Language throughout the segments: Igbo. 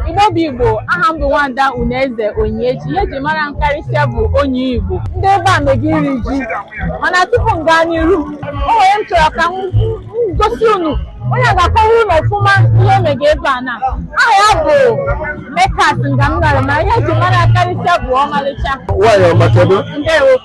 Igbo bụ Igbo, aha m bụ Nwada Unaeze Onyiechi, ihe eji mara m karịsịa bụ Onyii Igbo. Ndị ebe a mega iri ji, mana tupu m gaa n'iru, o nwere m chọrọ ka m gosi unu onye a ga-akọwara unu ọfụma ihe mega ebe a na aha ya bụ Mekas Ngamnara, ma ihe eji mara ya karịsịa bụ ọmalịcha. Nwaanyị ọma kedu? Ndewo.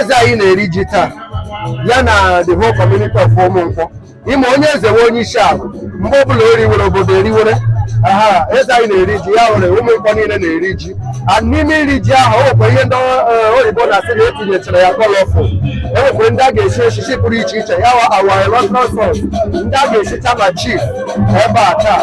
eze anyị na-eri ji taa ya na the whole community of ụmụnkwọ ị ma onye eze wụ onye isi ala mgbe ọbụla o riwere obodo eriwere aha eze anyị na-eri ji ya wụrụ ụmụnkwọ niile na-eri ji a n'ime iri ji ahụ o nwekwa ihe ndị eh, oyibo na-asị na etinyechara ya colourful o nwekwa ndị a ga-esi echichi pụrụ iche iche ya wa awa electoral ndị a ga-esicha na chief ebe a taa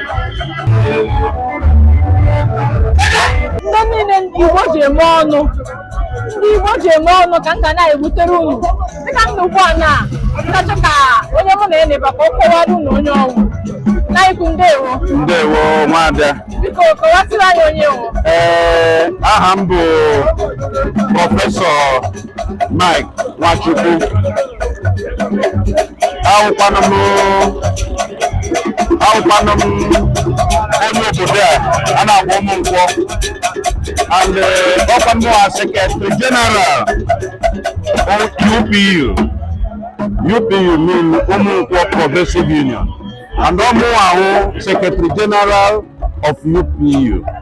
ndị niile ndị Igbo ji eme ọnụ ndị Igbo ji eme ọnụ ka m ga na-ebutere unu dịka m nọ ugbu a m ga-achọ ka onye mụ na ya nọ ebe a ka ọ kọwara unu onye ọ wụ nna ukwu ndewo ndewo nwada biko kọwasịrị anyị onye ị wụ ee aha m bụ prọfesọ Mike Nwachukwu awụkwanụ m awụkwanụ m onye obodo a a na-akpọ ụmụnkwọ and eh, ọkwa mụ wụ secretary general UPU UPU mean ụmụnkwọ progressive union and ọ mụwa wụ secretary general of UPU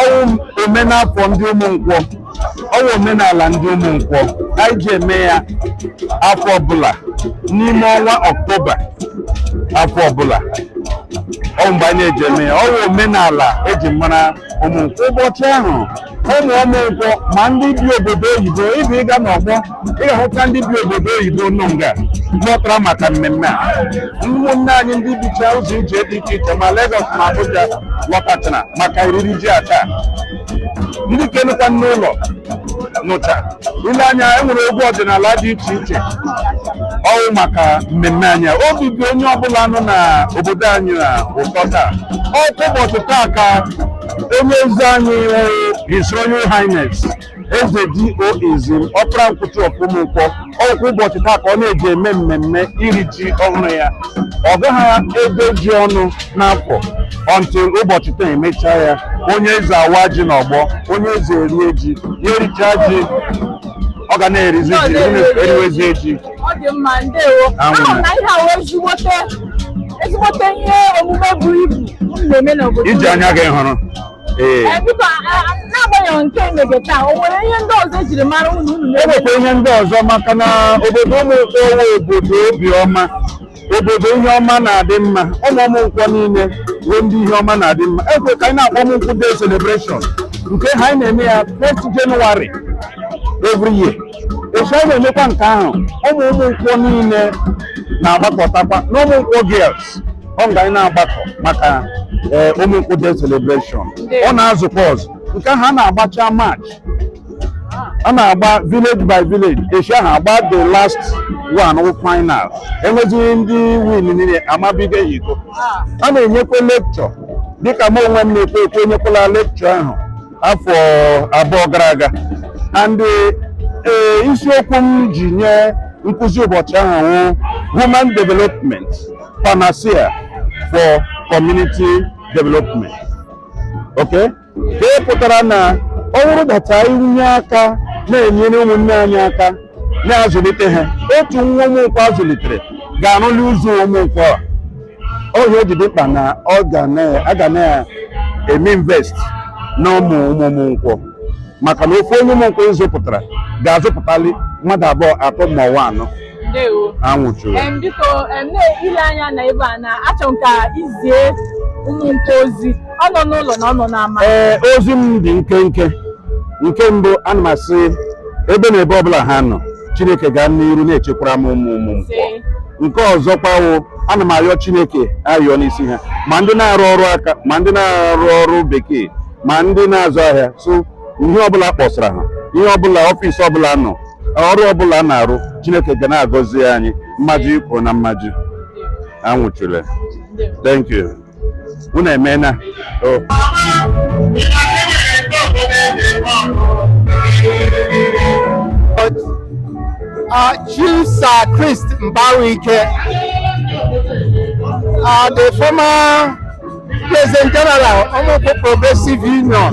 ọ wụ omenafọ ndị ụmụnkwọ ọ wụ omenala ndị ụmụnkwọ anyị ji eme ya afọ ọbụla n'ime ọnwa ọktoba afọ ọbụla ọ wụ mgbe anyị ji eme ya ọ wụ omenala eji mara ụmụnkwọ ụbọchị ahụ ụmụ ụmụnkwọ ma ndị bi obodo oyibo ibe ị gaa n'ọgbọ ị ga-ahụta ndị bi obodo oyibo nọ nga lọtara maka mmemme a ụmụnne anyị ndị bicha ụzọ ije dị iche iche ma Lagos ma Abuja lọtachara maka oriri ji a taa ndị nke nọkwa n'ụlọ nọcha i lee anya e nwere egwu ọdịnala dị iche iche ọ wụ maka mmemme anyị a. obi dị onye ọbụla nọ na obodo anyị a ụtọ taa ọ wụ ụbọchị taa ka onye eze anyị wụ His Royal Highness eze DO Izim ọpara nkwọ two of ụmụnkwọ ọ wụkwa ụbọchị taa ka ọ na-eji eme mmemme iri ji ọhụrụ ya ọ gaghị ebe ji ọnụ n'afọ until ụbọchị taa emechaa ya onye eze awaa ji n'ọgbọ onye eze erie ji ya erichaa ji ọ ga na-erizi ji eriwezie ji ọ dị mma ndewo a hụ na ihe a wụ ezigbote ihe omume buru ibu na-eme n'obodo i ji anya gị hụrụ ee Eh, biko a- a- n'agbanyeghị nke emege taa o nwere ihe ndị ọzọ ejiri mara unu unu e na-eme nwekwa ihe ndị ọzọ maka na obodo ụmụ nkwọ wụ obodo obiọma obodo ihe ọma na-adị mma ụmụ ụmụ nkwọ niile bụ ndị ihe ọma na-adị mma e nwere nke anyị na-akpọ ụmụ nkwọ day celebration nke ahụ anyị na-eme ya 1st January every year etu anyị na-emekwa nke ahụ ụmụ ụmụ nkwọ niile na-agbakọtakwa na ụmụ nkwọ girls ọ nga anyị na-agbakọ maka ee, ụmụ nkwọ day celebration ọ na-azụkwa ọzọ nke ahụ a na-agbacha match a na-agba village by village echi ahụ agba the last one wụ final enwezie ndị winniri amabiga ha iko a na-enyekwa lecture dịka m onwe m na-ekwu okwu enyekwala lecture ahụ afọ abụọ gara aga and ee isiokwu m ji nye nkụzi ụbọchị ahụ wụ human development panacea for community development okay nke pụtara na ọ bụrụ that anyị tinye aka na-enyere ụmụnne anyị aka na-azụlite ha otu nwa ụmụnkwọ azụlitere ga-arụli ụzọ ụmụnkwọ a ọ ya o ji dị mkpa na ọ ga na- a ga na-eme invest na ụmụ ụmụ ụmụ nkwọ maka na otu onye ụmụ nkwọ ịzụpụtara ga-azụpụtali mmadụ abụọ atọ ma ọ wụ anọ ndewo anwụchule em biko em na-ele anya na ebe a na achọ m ka izie ụmụ nkwọ ozi ọ nọ n'ụlọ na ọ nọ n'ama ee ozi m dị nkenke nke mbụ ana m asị ebe na ebe ọbụla ha nọ chineke gaa n'iru na-echekwara m ụmụ ụmụ nkwọ nke ọzọkwa wụ ana m arịọ chineke arịọ n'isi ha ma ndị na-arụ ọrụ aka ma ndị na-arụ ọrụ bekee ma ndị na-azụ ahịa so ihe ọbụla a kpọsara ha ihe ọbụla ọfịs ọbụla a nọ ọrụ ọbụla a na-arụ chineke ga na-agọzi anyị mmadụ ikwu na mmadụ anwụchule thank you unu emeela o uh, Chief Sir Chris Mbawuike, uh, the former President General of Ụmụnkwọ Progressive Union,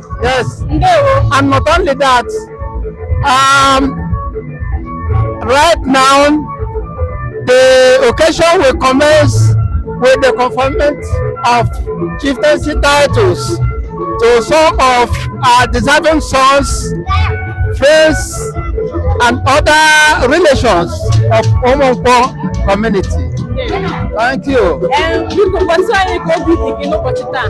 Yes. And not only that, um, right now, the occasion will commence with the conferment of chieftaincy titles to some of our deserving sons, friends, and other relations of Omonpo community. Thank you. Biko, gwa anyị ka obi dị gị n'ụbọchị taa.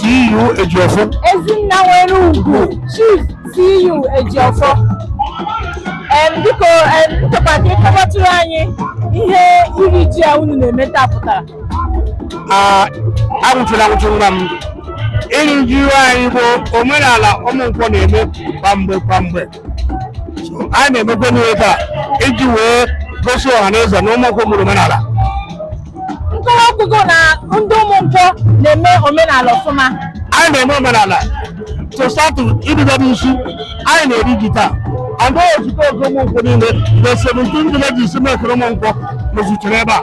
CEO Ejiofor. Ezinna nwere ugwu Chief CEO Ejiofor. Em, Biko em, m chọkwa ka ị kọwatụrụ anyị ihe iri ji a unu na-eme taa pụtara. Ah, anwụchula anwụchụ nwa m iri ji be anyị bụ omenala ụmụ nkwọ na-eme kwa mgbe kwa mgbe anyị na-emekwa n'ihe taa iji wee gosi ọha na eze na ụmụnkwọ mụrụ omenala nkọwa kwugo na ndị ụmụ nkwọ na-eme omenala ọfụma anyị na-eme omenala tosatu ididebe isi anyị na-eri ji taa and o zute oge ụmụnkwọ niile na 17 villages mekere ụmụnkwọ mezutere ebe a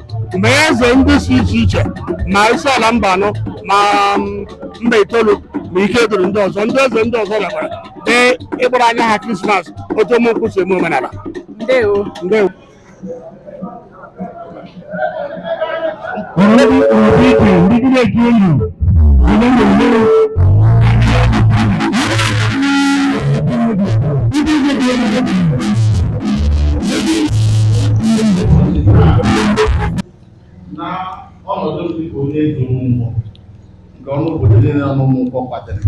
ma eze ndị si iche iche ma isi ala mba anọ ma mm, mba itoolu ma ike duru ndị ọzọ ndị eze ndị ọzọ bịakwara dee ịgbara anya ha krismas otu ụmụnkwụ si eme omenala ndewo ndewo Already already leading a game. Remember, remember. Leading a game. na ọnọdụ m dịka onye eze m wụ nke ọnụ obodo niile nọ n'Ụmụnkwọ kwadoro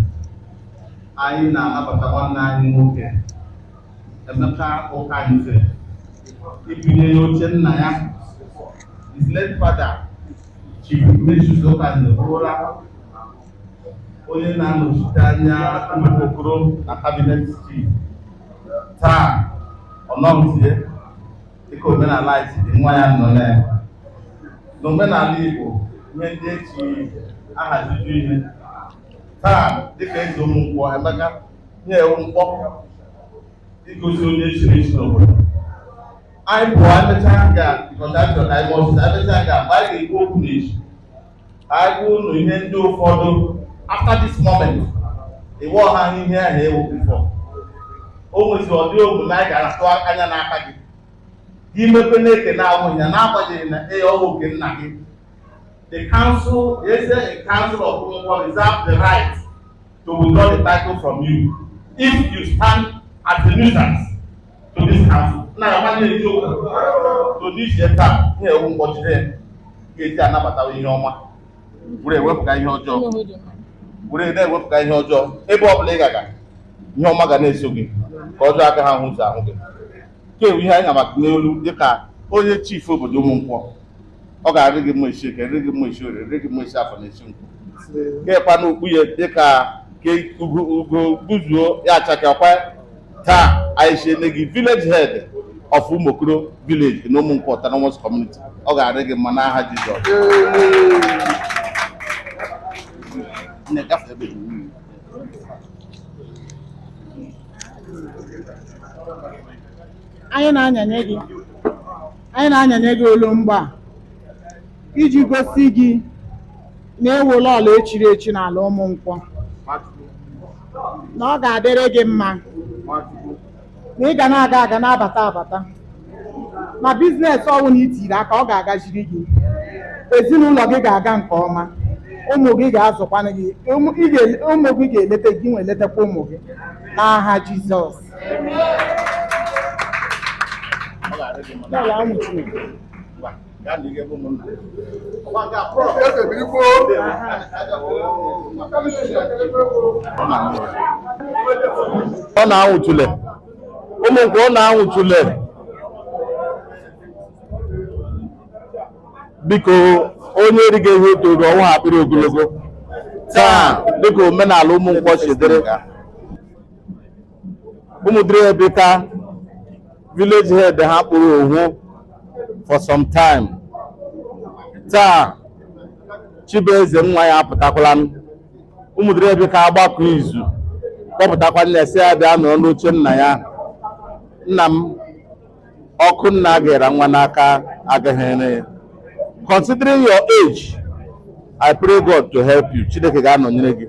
anyị na-anabata nwanne anyị nwoke Emeka Ụkanze ịbanye n'oche nna ya his late father Chief Ignatius Ụkanze bụrụla onye na-anọchite anya Mbaka Okoro na kabinet chief taa ọ nọghịzi dịka omenala anyị si dị nwa ya nọ na ya n'omenala Igbo ihe ndị echi ahaziju ihe taa dịka eze Ụmụnkwọ Emeka ihe a wụ mkpọ igosi onye e chiri echi n'obodo anyị pụọ emechaa ga kọndaktọ ka anyị mọsịs emechaa ga mgbe anyị ga-ekwu okwu n'echi anyị gwa unu ihe ndị ụfọdụ after this moment ị wụghị ihe ahụ ị wụ bifọ o nwezi ụdị omume anyị ga-atụ anya n'aka gị gị mepe nke na-awụghị ya n'agbanyeghị na ee ọ wụ nke nna gị the council the eze council of Ụmụnkwọ reserve the right to withdraw the title from you if you stand as a nuisance to this council na ya mmadụ na-eji okwu to this year taa ihe a wụ ụbọchị na ga-eji anabata ihe ọma were ewepụga ihe ọjọọ were na-ewepụga ihe ọjọọ ebe ọ bụla ị ga-aga ihe ọma ga na-eso gị nke ọjọọ agaghị ahụ ụzọ ahụ gị nke a wụ ihe anyị ga-ama gị n'olu dịka onye chief obodo Ụmụnkwọ ọ ga-arị gị mma isi eke rị gị mma isi ore rị gị mma isi afọ na isi nkwọ kekwa n'okpu ya dịka ka ugo ugo gbuzuo ya achakekwa taa anyị echiela gị village head of Ụmụokoro village na Ụmụnkwọ Autonomous Community ọ ga-adị gị mma n'aha Jizọs Nne, gafee ebe iwu. anyị na-anyanye gị anyị na-anyanye gị olu mgba a iji gosi gị na ị wụla onye e chiri echi n'ala Ụmụnkwọ na ọ ga-adịrị gị mma na ị ga na-aga aga na-abata abata ma biznes ọ wụla i tiri aka ọ ga-agaziri gị ezinụlọ gị ga-aga nke ọma ụmụ gị ga-azụkwanụ gị ụmụ ị ga- ụmụ gị ga-eleta gị nwa eletakwa ụmụ gị n'aha Jizọs N'ala ụmụ Chineke. ọ na-anwụ tule ụmụ nkwọ ọ na-anwụ tule biko onye eriga ihe otu oge ọnwa akpịrị ogologo taa dịka omenala ụmụ nkwọ si dịrị Umuduruebika village head ha kpụrụ ohu for some time taa Chibueze nwa ya apụtakwala m Umuduruebika agbakọ izu kpọpụtakwa ya sị ya bịa nọrọ n'oche nna ya nna m ọkụ nna gera nwa n'aka agaghị ere ya considering your age I pray God to help you Chineke ga-anọnyere gị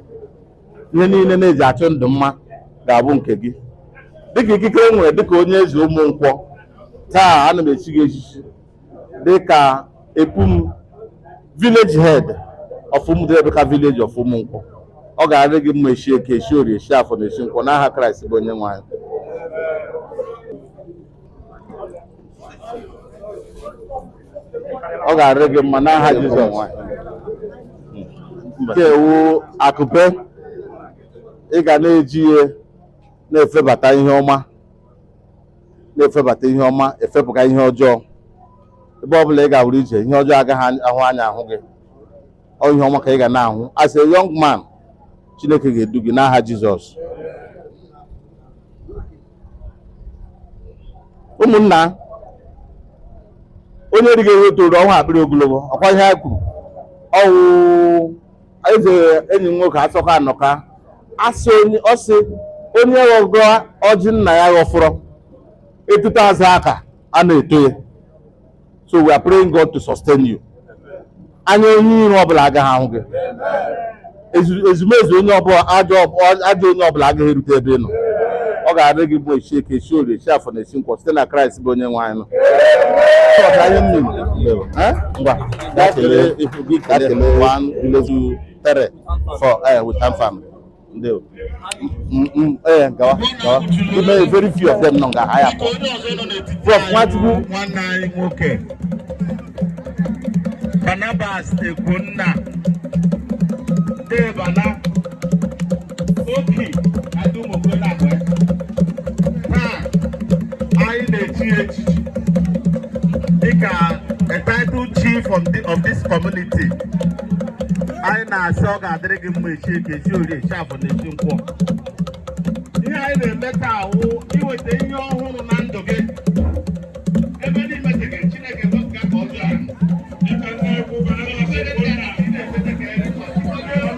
ihe niile na-eji achụ ndụ mma ga-abụ nke gị dịka ikike e nwere dịka onye eze ụmụ nkwọ taa ana m echi gị echichi dịka epum village head of Umuduruebika village of Umunkwọ ọ ga-arị gị mma echi eke echi orie echi afọ na echi nkwọ n'aha Kraịst bụ onye nwe anyị ọ ga-arị gị mma n'aha Jizọs nke a wụ akụpe ị ga na-eji ya na-efebata ihe ọma na-efebata ihe ọma efepụga ihe ọjọọ ebe ọ bụla ị gawara ije ihe ọjọọ agaghị ahụ anya ahụ gị ọ ihe ọma ka ị ga na-ahụ as a young man chineke ga-edu gị n'aha jizọs ụmụnna onye erighị ihe toro ọnwa akpịrị ogologo ọkwa ihe ha kwuru ọ wụ eze enyi m nwoke asọka anọka asị onye ọ sị onye ghọgọ ọjị nna ya ghọfọrọ etuta azụ aka a na-eto ya so we are praying God to sustain you anya onye iro ọbụla agaghị ahụ gị Ezu- ezumezu onye ọbụla ajọ ọb- ajọ onye ọbụla agaghị erute ebe ị nọ ọ ga-arị gị mma esi eke esi orie esi afọ na esi nkwọ site na kraịst bụ onye nwe anyị nọ Chọọchị anyị nne m. Eh? Ngwa, gaa kelee ifu gị kelee one, two, three, four, eh, with hand family. Ndewo. Mm, mm, eh, gawa, gawa. Ebe very few of them nọ nga ha ya pụọ. Prof. Nwachukwu. nwanne anyị nwoke Barnabas Ekwunna Debana Oki Adumokolagwe taa anyị na-echi ya echichi dịka a title chief of, the, of this community anyị na-asị ọ ga-adịrị gị mma echi eke echi orie echi afọ na echi nkwọ ihe anyị na-eme taa wụ iweta ihe ọhụrụ na ndụ gị ebe ndị metere Chineke wepụga aka ọjọọ ahụ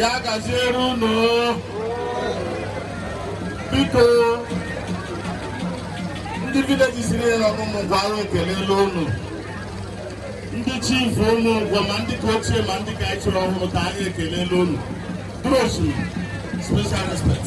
ya gaziere unu biko ndị village siri ya ọnụ ụmụ gwara ekeleela unu ndị chief ụmụ ngwa ma ndị ka ochie ma ndị ka anyị chiri ọhụrụ taa anyị ekeleela unu Bros, special respect.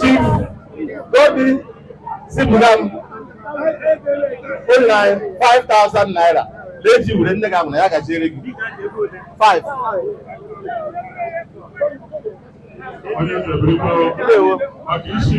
Chief Godi zipụga m o nyere anyị 5000 naira na-eji were nne gị ahụ na ya gajiere gị 5 onye nzebere ndewo maka isi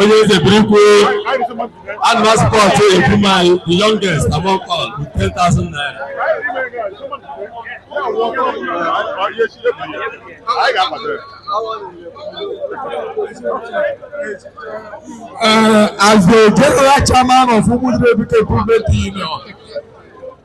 onye eze biri kwuo ana m a support egwu ụmụ nwanyị the youngest among all with 10,000 naira Uh, as the general chairman of Umudu Ebuka Improvement Union,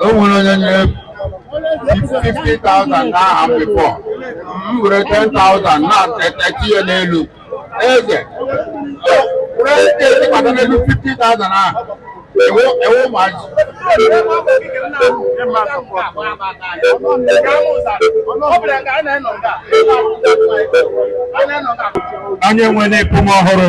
o nwere onye nyere 50,000 n'aha m before m were 10,000 naira tinye n'elu eze ezi kpata n'elu 50,000 ahụ ewu ewu ụmụazị onye nwere ịpụm ọhụrụ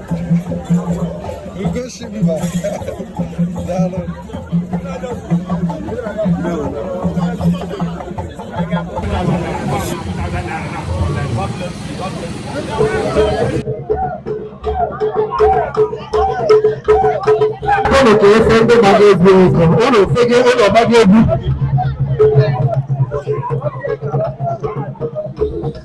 Unu ka efe ndị gbara egwu ego, unu efee unu gbara egwu.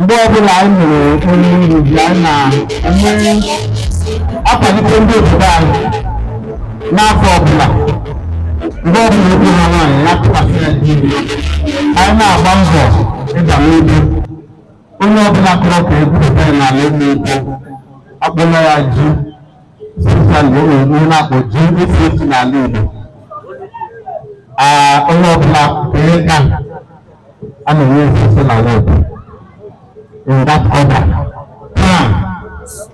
mgbe ọbụla anyị mere oriri ji anyị na-akwalite ndị obodo anyị n'afọ ọbụla mgbe ọbụla okwu ha nwaanyị ya tụkwasị ya di anyị na-agba mbọ ịga n'ubi onye ọbụla kọrọ ka e gwupụta ya n'ala ime ugbo akpọla ya ji especially o nwere ihe a na-akpọ GSS n'ala Igbo Ah, onye ọbụla kere ka a na-enye osisi n'ala Igbo in that order taa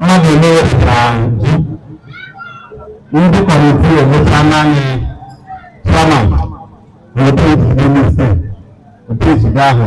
mmadụ ole wepụtara ji ndị kọmiti ewepụta naanị chairman na otu esi n'ime isi otu esi gaa ahụ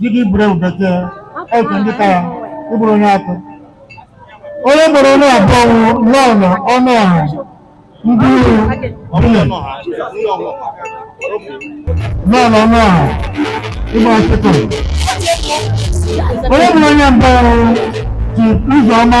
dịka iburu ewu bekee eke ndị ka ya ịbụrụ onye atọ onye gbara onye abụọ wụ lọọlọ Ọnụọha ndị uru ọbụla lọọlọ Ọnụọha ịgba ọtụtụ onye gbara onye mbụ wụ ji ụzọ ọma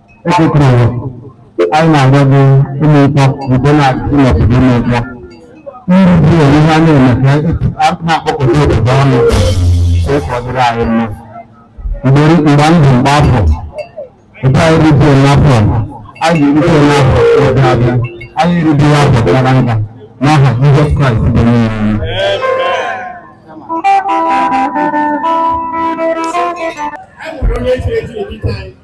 ekwetụrụ anyị na-agwa gị Ụmụnkwọ nke na-adị n'obodo Ụmụnkwọ ndị bụ onye ha na-eme ka a na-akpọkọta obodo ọnụ ka ọ dịrị anyị mma mgbe mgbe ndụ mgbe afọ nke anyị rite n'afọ anyị erite n'afọ ga-abịa anyị erite n'afọ gara aga n'aha Jizọs Kraịst bụ onye nwe anyị. Amen.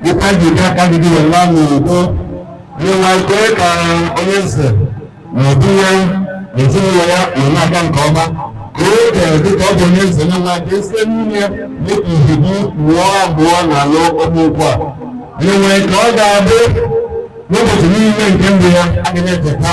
Dịka ji bịa ka gị dịrị nwa n'udo, nna kwee ka onye eze na obi ya na ezinụlọ ya nọ na-aga nke ọma ka o kere dịka ọ bụ onye eze na nwa ka esi n'ime ya dịka ihe gị mụọ abụọ na alụ ọmụ ugbu a nwe ka ọ ga-abụ n'ụbọchị niile nke ndụ ya ọ ga na-enweta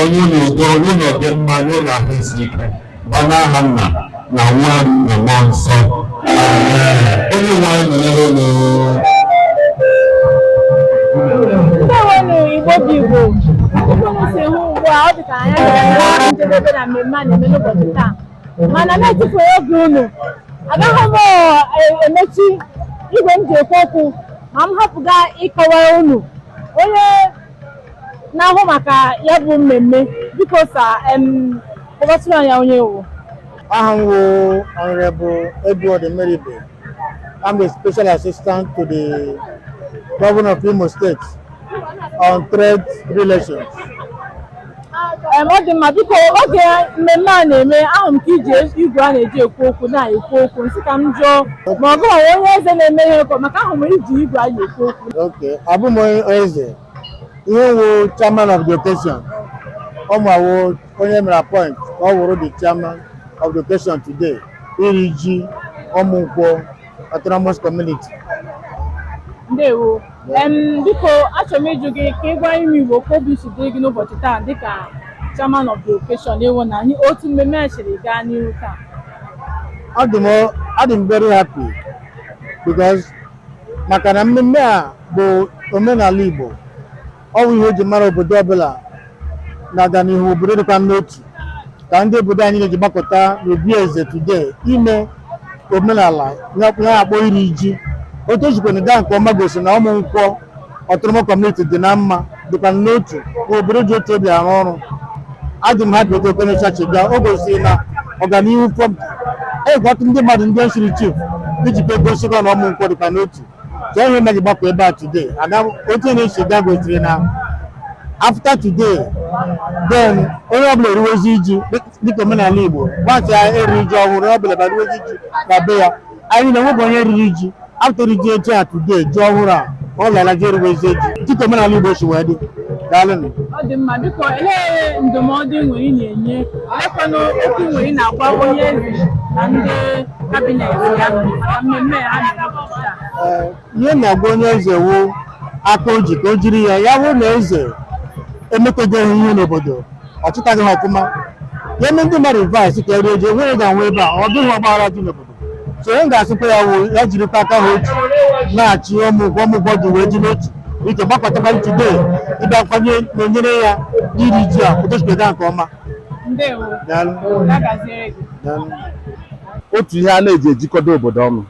ọṅụ na udo ọṅụ na ọdịmma nye na ahụ isi ike gba n'aha nna na nwa na mmụọ nsọ onye nwe anyị nọnyere unu Ndewenụ Igbo bụ Igbo otu m si hụ ugbu a ọ dị ka anyị agaala njedebe na mmemme a na-eme n'ụbọchị taa mana m etufughị oge unu agaghị m eh, emechi igwe m ji ekwu okwu ma m hapụga ịkọwara unu onye na-ahụ maka ya bụ mmemme biko sir em kọwatụrụ anyị onye ị wụ Aha m wụ Honorable Edward Emeribe. I'm the Special Assistant to the Governor of Imo State on Trade Relations. Em, ọ dị mma biko oge mmemme a na-eme ahụ m ka i ji igwe a na-eji ekwu okwu na-ekwu okwu m sị ka m jụọ ma ọ gị wụ onye eze na-eme ihe ụkọ maka ahụ m i ji igwe a na-ekwu okwu Okay, abụghị m onye eze ihe m wụ chairman of the occasion ọ mụ wụ onye e mere appoint ka ọ wụrụ the chairman of the occasion today iri ji Ụmụnkwọ autonomous community ndewo em biko achọrọ m ịjụ gị ka ị gwa ụmụ Igbo ka obi si dịrị gị n'ụbọchị taa dịka chairman of the occasion ị hụ n'anya otu mmemme a siri gaa n'ihu taa adị m adị m very happy because maka na mmemme a bụ omenala Igbo ọ bụ ihe eji mara obodo ọbụla na-aga n'ihu obodo dịkwa n'otu ka ndị obodo anyị na-eji gbakọta n'obi eze today ime omenala ya ya akpọ iri ji otu ejikwana gaa nke ọma gosi na ụmụ nkwọ autonomous community dị na mma dịkwa n'otu na obodo ji otu obi arụ ọrụ adị m happy otu okene chachi gaa o gosiri na ọganihu fọm egwatụ ndị mmadụ ndị nsiri chief iji kwe gosikwa na ụmụ nkwọ dịkwa n'otu ka enwe na gbakọ ebe a today ada otu na-esi ga gosiri na after today then onye ọbụla eriwezi ji dịka omenala Igbo gbasị ya eri iji ọhụrụ onye ọbụla ga-eriwezi ji na be ya anyị na enweghị onye riri ji after iri ji a today ji ọhụrụ a onye ọbụla eriwezi ji dịka omenala Igbo si wee dị daalụnụ ọ dị mma biko olee ndụmọdụ ị nwere ị na-enye olekwanụ okwu ị nwere ị na-agwa onye eze na ndị ihe m na-agwa onye eze wu aka o ji ka o jiri ya ya wụ na eze emetaghị ihe n'obodo ọ chịtaghị ha ọfụma ya eme ndị mmadụ vice ka eri ji enweghị ga-anọ ebe a ọ dịghị ọgbaghara dị n'obodo so onye ga-asịkwa ya wụ ya jirikwa aka ha otu na-achị ụmụ nkwọ ụmụ nkwọ ji wee dị n'otu ike gbakọtakwa today ịbịakwa nọnyere ya iri ji a pụtachibega nke ọma otu ihe a na-eji ejikọta obodo ọnụ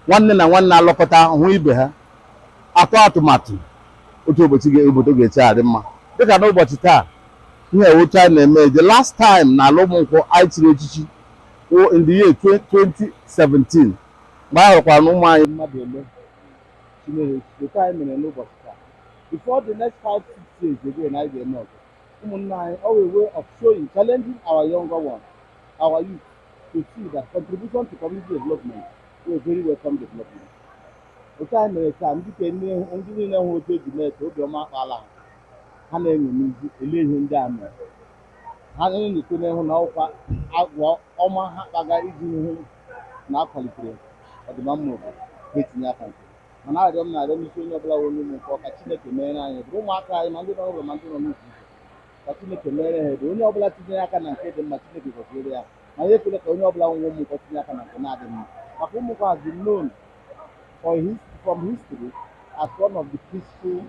nwanne na nwanne alọkọta hụ ibe ha atụ atụmatụ otu obodo ga-esi adị mma dịka n'ụbọchị taa ihe wụ otu anyị na-eme the last time na ala ụmụ nkwọ anyị chiri echichi in the year 2017 mgbe a họrọkwara na ụmụ anyị mmadụ ole chinyere echichi otu anyị mere n'ụbọchị taa before the next five six years again anyị ga-eme ọzọ Ụmụnna anyị, ọ wụ a way of showing, challenging our younger ones, our youth, to see that contribution to community development is a very welcome development. Otu anyị mere taa, ndị ke ndị niile hụ otu eji mee ka obiọma akpala ha, ha na-eṅomizi ele ihe ndị a mere. Ha na-enyocha n'ịhụ na ọ wụkwa agwa ọma ha kpaga iji hụ na akwalitere ọdịmma obodo ga-etinye aka nke mana arịrịọ m na-arịọ n'isi onye ọbụla wụ onye ụmụ nkwọ ka Chineke meere anyị ebere ụmụaka anyị ma ndị nọ n'ụlọ ma ndị nọ n'ụzọ ka Chineke meere ha ebere onye ọbụla tinyere aka na nke dị mma Chineke gọziere ya ma ya ekwele ka onye ọbụla wụ onye ụmụ nkwọ tinye aka na nke na-adịghị mma maka ụmụ nkwọ has been known for his, from history as one of the peaceful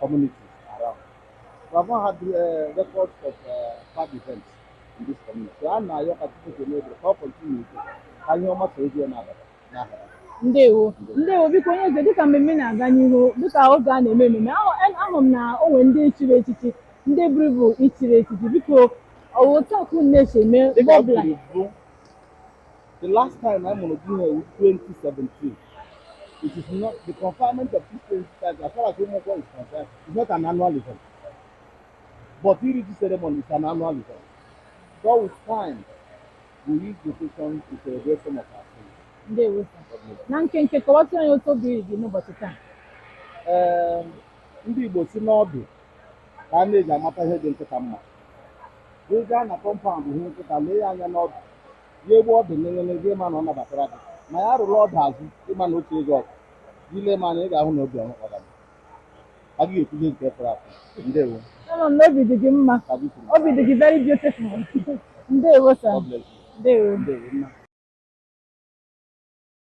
communities around. We have not had uh, records of uh, bad events in this community. So, and now you can continue to make the continue. Can you almost review another? ndewo ndewo biko onye eze dịka mmemme na-aga n'ihu dịka oge a na-eme ememe ahụ m na o nwe ndị e chiri echichi ndị buru ibu e chiri echichi biko ọ wụ otu a ka unu na-esi eme mgbe ọbụla The last time I'm going to be here was 2017. It is not the conferment of this 2017, as far as Umoko is concerned, is not an annual event. But Iriji ceremony is an annual event. So with time, Ndewo sir. Na nkenke kọwatụ anyị otu obi dị n'ụbọchị taa. Ee, ndị Igbo sị na ọdụ ka a na-eji amata ihe dị nkịta mma. Ị gaa na compound hụ nkịta lee ya anya n'ọdụ ya egbe ọdụ n'enyere gị ị ma na ọ nabatara gị ma ya rụrụ ọdụ azụ ị ma na otu ego ọdụ i lee m anya ị ga-ahụ na obi ọhụrụ A gaghị ekwuzi nke fọrọ afọ. Ndewo. Ama m na obi dị gị mma. Ka gị kwuru. Obi dị gị very beautiful. Ndewo sir. God bless you. Ndewo. Ndewo mma.